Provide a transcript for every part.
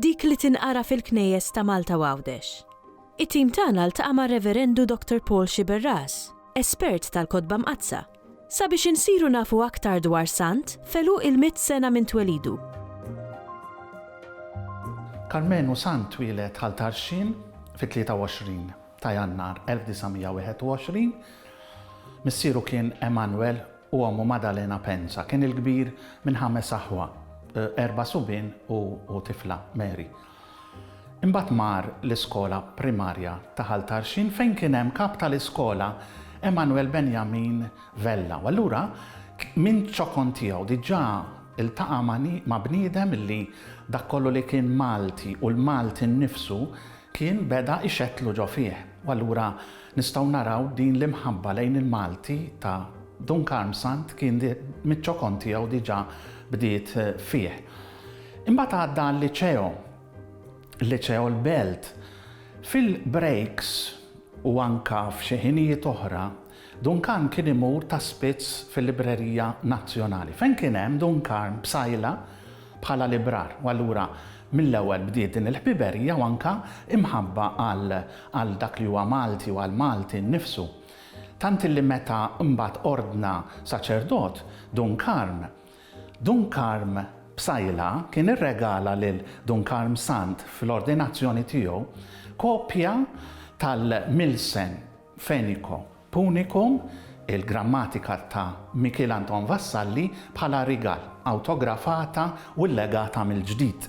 Dik li tinqara fil-Knejjes ta' Malta u Għawdex. It-tim tagħna ltaqa' mar-Reverendu Dr. Paul Sciberras, espert tal-Kotba Mqaddsa, sabiex insiru nafu aktar dwar sant f'għeluq il-mitt sena minn twelidu. Karmenu Sant twieled Ħal Tarxien fit-23 ta' Jannar 1921. Missieru kien Emanuel U ommu Maddalena Pensa kien il-kbir minn ħames aħwa, erba' subien u tifla, Mary. Imbagħad mar l-iskola primarja ta' Ħal Tarxien fejn kien hemm kap tal-iskola Emmanuel Benjamin Vella u allura minn ċokon tiegħu diġà ltaqa' ma' bniedem li dak kollu li kien Malti u l-Malti nnifsu kien beda ixettlu ġo fih u allura nistgħu naraw din l-imħabba lejn il-Malti ta' Dun Karmsant kien miċ-ċokon tiegħu diġà bdiet fih. Imbagħad għadda għal-Liċeo, Liċeo l-Belt. Fil-brejks u anke f'xi ħinijiet oħra, Duncan kien imur ta' spiss fil-Librerija Nazzjonali, fejn kien hemm Duncan Psaila bħala librar, u allura mill-ewwel bdiet din il-ħbiberija u anke imħabba għal dak li huwa Malti u għal Malti nnifsu. Tant illi meta mbagħad ordna saċerdot, Dun Karm, Dun Karm Psaila kien irregala lil Dun Karm Sant fl-ordinazzjoni tiegħu kopja tal-Milsen, Fenico Punicum, il-grammatika ta' Mikiel Anton Vassalli bħala rigal, awtografata u llegata mill-ġdid.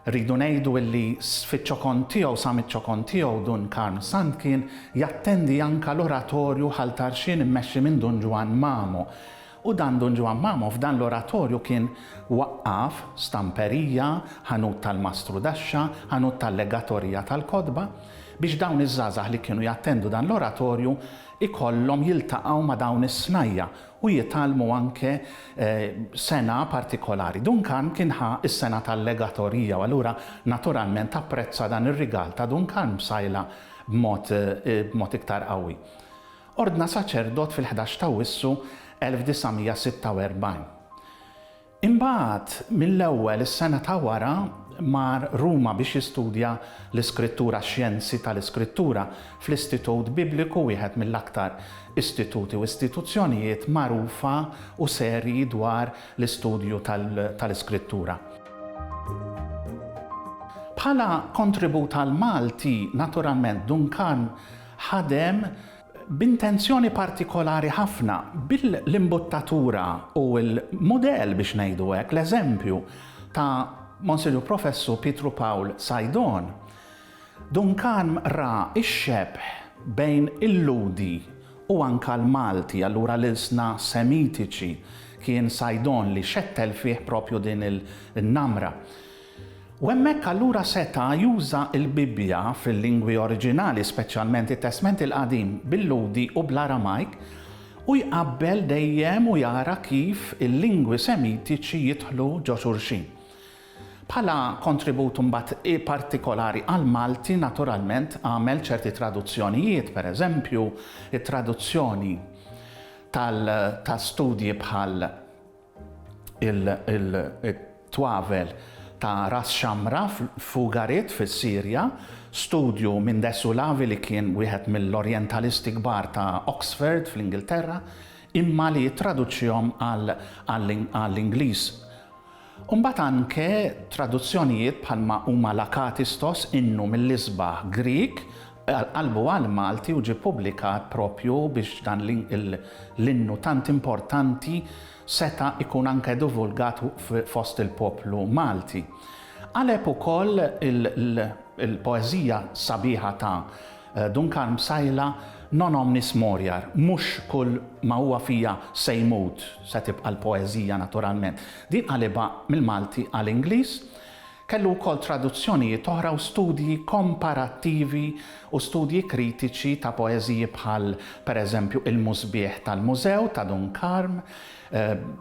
Rridu ngħidu illi fiċ-ċokon tiegħu, sa miċ-ċokon tiegħu, Dun Karm Sant kien jattendi anka l-oratorju Ħal Tarxien immexxi minn Dun Ġwann Mamo, U dan Dun Ġwann Mamo f'dan l-oratorju kien waqqaf stamperija, ħanut tal-mastru daxxa, ħanut tal-legatorija tal-kotba, biex dawn iż-żgħażagħ li kienu jattendu dan l-oratorju ikollhom jiltaqgħu ma' dawn is-snajja' u jitgħallmu anke sengħa partikolari. Dun Karm kien ħa s-sengħa tal-legatorija u allura naturalment apprezza dan ir-rigal ta' Dun Karm b'sajla b'mod iktar qawwi. Ordna saċerdot fil-ħdax t'Awwissu 1946. Imbagħad, mill-ewwel is-sena ta' wara, mar Ruma biex jistudja l-Iskrittura, Xjenzi tal-Iskrittura, fl-Istitut Bibliku, wieħed mill-aktar istituti u istituzzjonijiet magħrufa u serji dwar l-istudju tal-Iskrittura. Bħala kontribut għall-Malti, naturalment, Duncan ħadem b'intenzjoni partikolari ħafna bil-imbuttatura u l-mudell biex ngħidu hekk, l-eżempju ta' Monsinjur Professur Pietru Pawl Sajdon. Duncan ra x-xebh bejn il-Lhudi u anke l-Malti, allura l-ilsna Semitiċi, kien Sajdon li xettel fih proprju din in-namra. U hemmhekk allura seta' juża l-Bibbja fil-lingwi oriġinali, speċjalment it-Testment il-Qadim bil-Lhudi u bl-Aramajk, u jqabbel dejjem u jara kif il-lingwi Semitiċi jidħlu ġo xulxin. Bħala kontribut mbagħad partikolari għall-Malti naturalment għamel ċerti traduzzjonijiet, pereżempju, it-traduzzjoni tal ta' studji bħal, il-twavel ta' Ras Xamra f'Ugarit fis-Sirja, studju minn De Sulavi li kien wieħed mill-Orjentalisti kbar ta' Oxford fl-Ingilterra imma li ttraduċihom għall-Ingliż. U mbagħad anke traduzzjonijiet bħalma huma l-Akatistos, innu mill-isbaħ Grieg, Qalbu għall-Malti u ġie pubblikat proprju biex dan l-innu tant importanti seta' jkun anke divulgat fost il-poplu Malti. Qaleb ukoll il-poeżija sabiħa ta' Dun Karm Psaila Non omnis moriar, mhux kull ma huwa fija se jmut, se tibqa' l-poeżija naturalment. Din qalibha mill-Malti għal Ingliż Kellu wkoll traduzzjonijiet oħra u studji komparattivi u studji kritiċi ta' poeżiji bħal, per eżempju, Il-Musbieħ tal-Mużew ta' Dun Karm,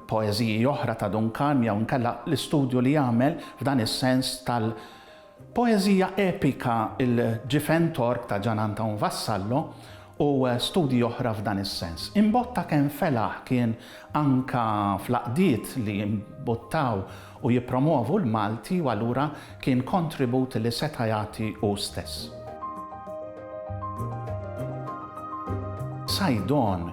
poeżiji oħra ta' Dun Karm jew inkella l-istudju li għamel f'dan is-sens tal-poeżija epika Il-Ġifen Tork ta' Gian Anton Vassallo u studji oħra f'dan is-sens. Imbotta kemm felaħ kien anke fl-għaqdiet li mbuttaw u jippromwovu l-Malti u allura kien kontribut li seta' jagħti hu stess. Saidon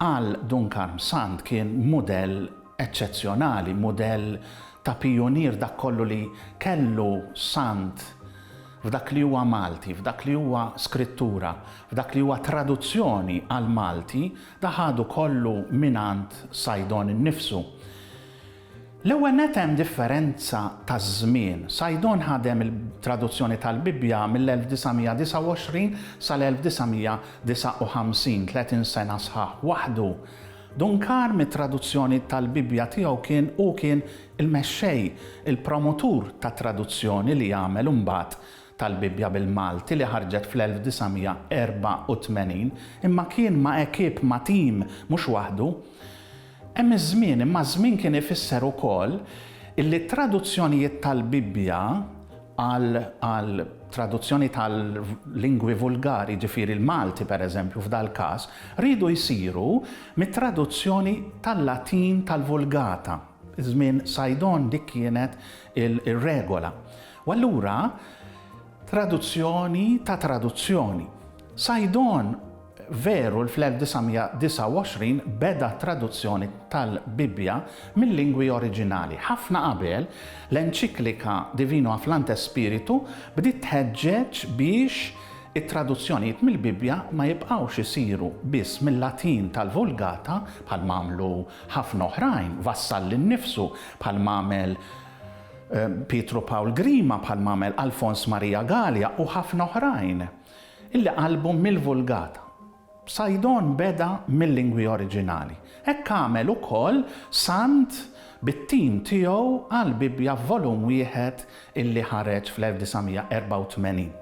għal Dun Karm Sant kien mudell eċċezzjonali, mudell ta' pijunier dak kollu li kellu Sant f'dak li huwa Malti, f'dak li huwa skrittura, f'dak li huwa traduzzjoni għall-Malti, dak ħadu kollu mingħand Saidon innifsu. L-ewwel nett hemm differenza ta' żmien. Saidon ħadem il-traduzzjoni tal-Bibbja mill-1929 sal-1959, tletin sena sħaħ, waħdu. Duncar mit-traduzzjoni tal-Bibbja tiegħu kien hu kien il-mexxej, il-promotur tat-traduzzjoni li għamel imbagħad tal-Bibbja bil-Malti li ħarġet fl-1984, imma kien ma' ekip, ma' tim, mhux waħdu. Hemm iż-żmien, imma żmien kien ifisser ukoll illi t-traduzzjonijiet tal-Bibbja għal għal traduzzjoni tal-lingwi vulgari, jiġifieri l-Malti pereżempju f'dal-każ, riedu jsiru mit-traduzzjoni tal-Latin tal-Vulgata. Żmien Sajdon dik kienet ir-regola. U allura traduzzjoni ta' traduzzjoni. Sajdon. Veru li fl-1929 beda t-traduzzjoni tal-Bibbja mil-lingwi oriġinali. Ħafna qabel, l-enċiklika Divino Afflante Spiritu bdiet tħeġġeġ biex it-traduzzjonijiet mill-Bibbja ma jibqgħux isiru biss mil-Latin tal-Vulgata, bħalma għamlu ħafna oħrajn, Vassalli nnifsu, bħalma għamel Pietru Pawl Grima, bħalma għamel Alfons Marija Galea u ħafna oħrajn. Illi qallbu mill-Vulgata. Psajdon beda mil-lingwi oriġinali. Hekk għamel ukoll Sant bit-tim tiegħu għall-Bibbja f'volum wieħed illi ħareġ fl-1984.